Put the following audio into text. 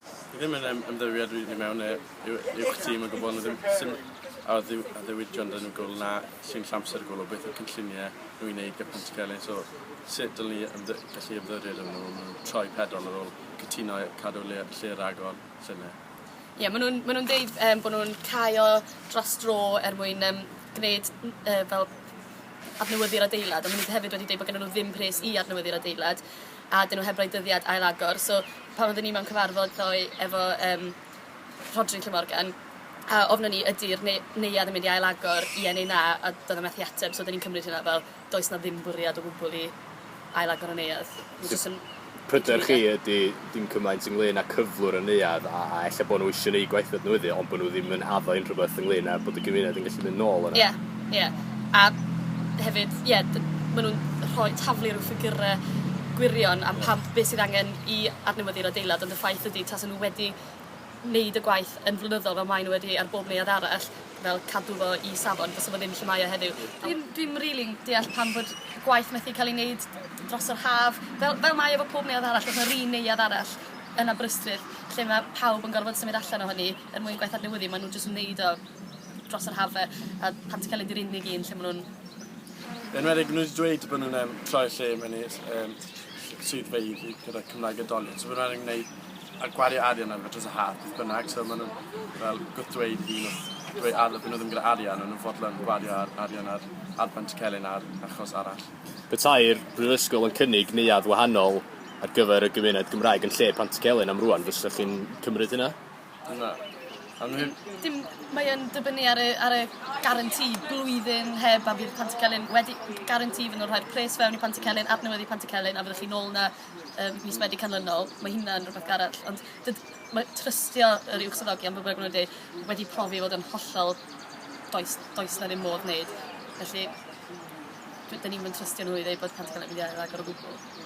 Fi ddim yn ym- ymddiried rili i mewn yy yw yw'ch tîm yn gwbwl ma' ddim sim a ddiw- a ddiwydion 'da n'w gwbwl na sy'n llamser o gwbwl beth yw cynllunie nw i neud gyda Pont y Celyn so sut dylen ni ymddy- gallu ymddiried arnyn nw ma' nw'n troi pedol ar ôl cytuno i cadw le- lle ragor llynedd. Ie ma' nw'n ma' nw'n deud yym bo' nw'n cau o dros dro er mwyn yym gneud n- yy fel adnewyddu'r adeilad a ma' nw hefyd wedi deud bo' gennyn nw ddim pres i adnewyddu'r adeilad. a 'dyn nhw heb roi dyddiad ail agor so pan oedden ni mewn cyfarfod ddoe efo yym Rhodri Llwyd Morgan a ofnon ni ydi'r neu- neuadd yn mynd i ail agor ie neu na a do'dd e methu ateb so 'dyn ni'n cymryd hynna fel does 'na ddim bwriad o gwbwl i ail agor y neuadd. Ma' jyst yn... Pryder chi ydi dim cymaint ynglŷn â cyflwr y neuadd a a ella bo' n'w isio neu' gwaethad n'w iddi ond bo' n'w ddim yn addo unrhywbeth ynglŷn â bod y gymuned yn gallu mynd nôl yna? Ie. Ie a hefyd ie d- ma' nw'n rhoi taflu rw ffigyre gwirion am pam be' sydd angen i adnewyddu'r adeilad ond y ffaith ydi tasa nw wedi neud y gwaith yn flynyddol fel mae n'w wedi ar bob neuadd arall fel cadw fo i safon bysa fo ddim lle mae o heddiw. Dwi'm dwi'm rili'n deall pam bod gwaith methu ca'l 'i neud dros yr haf fel fel mae e efo pob neuadd arall o's 'na ry neuadd arall yn Aberystwyth lle ma' pawb yn gorfod symud allan ohoni er mwyn gwaith adnewyddu ma' nw jyst yn neud o dros yr haf 'de a pan ti'n ca'l mynd i'r unig un lle ma' nw'n... Yn enwedig ma' nw 'di dweud bo' nw'n yym troi y lle mewn i'r yym swyddfeydd i gyda Cymraeg a Doly so bydda nw'n neud a gwario arian ar fe dros y haf beth bynnag so ma' nw'n fel gwrthddweud i n'w dweu- a by' n'w ddim gyda arian o'n nw'n fodlon gwario ar arian ar ar Bentcelyn ar achos arall. Petai'r Brifysgol yn cynnig neuadd wahanol ar gyfer y gymuned Gymraeg yn lle Pantycelyn am rŵan fysech chi'n cymryd hynna? Na. Am ddim. Dim... Mae yn dibynnu ar y ar y guarantee blwyddyn heb a bydd Panty Celyn wedi guarantee iddyn nhw rhoi'r pres fewn i Panty Celyn adnewyddu Panty Celyn a fyddwch chi nôl 'na yym mis Medi canlynol. Mae hynna'n rwbeth arall ond dyd- ma' trystio yr uwchsyddogion be' bynnag ma' nw'n deu wedi profi i fod yn hollol does does 'na ddim modd neud felly dw- 'dyn ni'm yn trystio nhw i ddeu bod Panty Celyn yn mynd i ail agor o gwbwl.